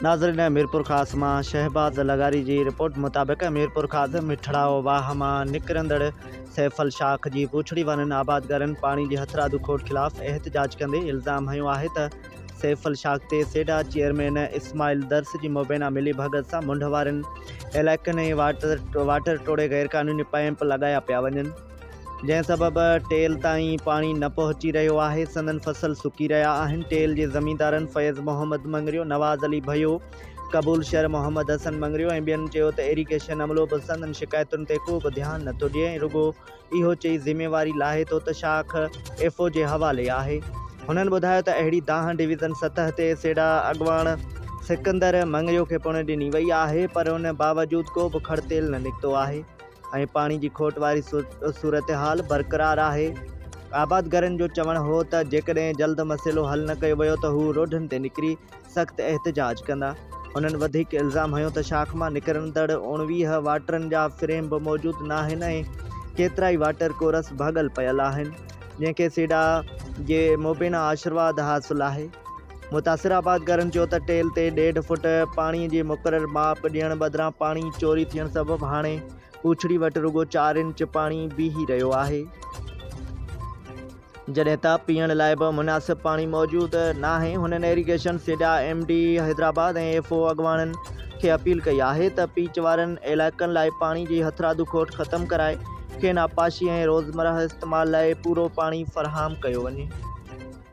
ناظرين ميرپورخاص مان شهباز لغاري جي رپورٽ مطابق ميرپورخاص مٺڙائو واهه مان نڪرندڙ سيف الشاخ جي بوڇڙي وارن آبادگارن پاڻي جي هٿرادو کوٽ خلاف احتجاج ڪندي الزام هنيو آهي ته سيف الشاخ تي سيڊا چيئرمين اسماعيل درس جي مبينا ملي ڀڳت سان منڍ وارن علائقن ۽ واٽر ٽوڙي غيرقانوني پائيپ لڳايا پيا وڃن. جنهن سبب ٽيل تائين پاڻي نه پهچي رهيو آهي، سندن فصل سڪي رهيا آهن، ٽيل جي زميندارن فيض محمد مڱريو، نواز علي ڀيو، قبول شر محمد حسن مڱريو ۽ ٻين چيو ته ايريگيشن عملو به سندن شڪايتن تي ڪو به ڌيان نه ٿو ڏئي ۽ رڳو اهو چئي ذميواري لاهي ٿو ته شاخ ايف او جي حوالي آهي. هنن ٻڌايو ته اهڙي دانهن ڊويزن سطح تي سيڊا اڳواڻ سڪندر مڱريو کي پڻ ڏني وئي آهي پر ان باوجود ڪو به کڙتيل نه نڪتو آهي. ۽ پاڻي جي کوٽ واري صورتحال برقرار آهي. آبادگارن جو چوڻ هو ته جيڪڏهن جلد مسئلو حل نه ڪيو ويو ته هو روڊن تي نڪري سخت احتجاج ڪندا. هنن وڌيڪ الزام هنيو ته شاخ مان نڪرندڙ اوڻويهه واٽرن جا فريم به موجود ناهن ۽ ڪيترائي واٽر ڪورس ڀڳل پيل آهن جنهن کي سيڊا جي مبينا آشرواد حاصل آهي. متاثر آبادگارن چيو ته ٽيل تي ڏيڍ فوٽ پاڻي جي مقرر ماپ ڏيڻ بدران پاڻي چوري ٿيڻ سبب هاڻي پوڇڙي وٽ رڳو چار انچ پاڻي بيهي رهيو آهي جڏهن ته پيئڻ لاء به مناسب پاڻي موجود ناهي هنن irrigation SIDA M D Hyderabad ۽ F O اڳواڻن کي اپيل ڪئي آهي ته پيچ وارن علائقن لاء پاڻي جي هٿرادو کوٽ ختم ڪرائي کين آبپاشي ۽ روزمرهه استعمال لاء پورو پاڻي فراهم ڪيو وڃي.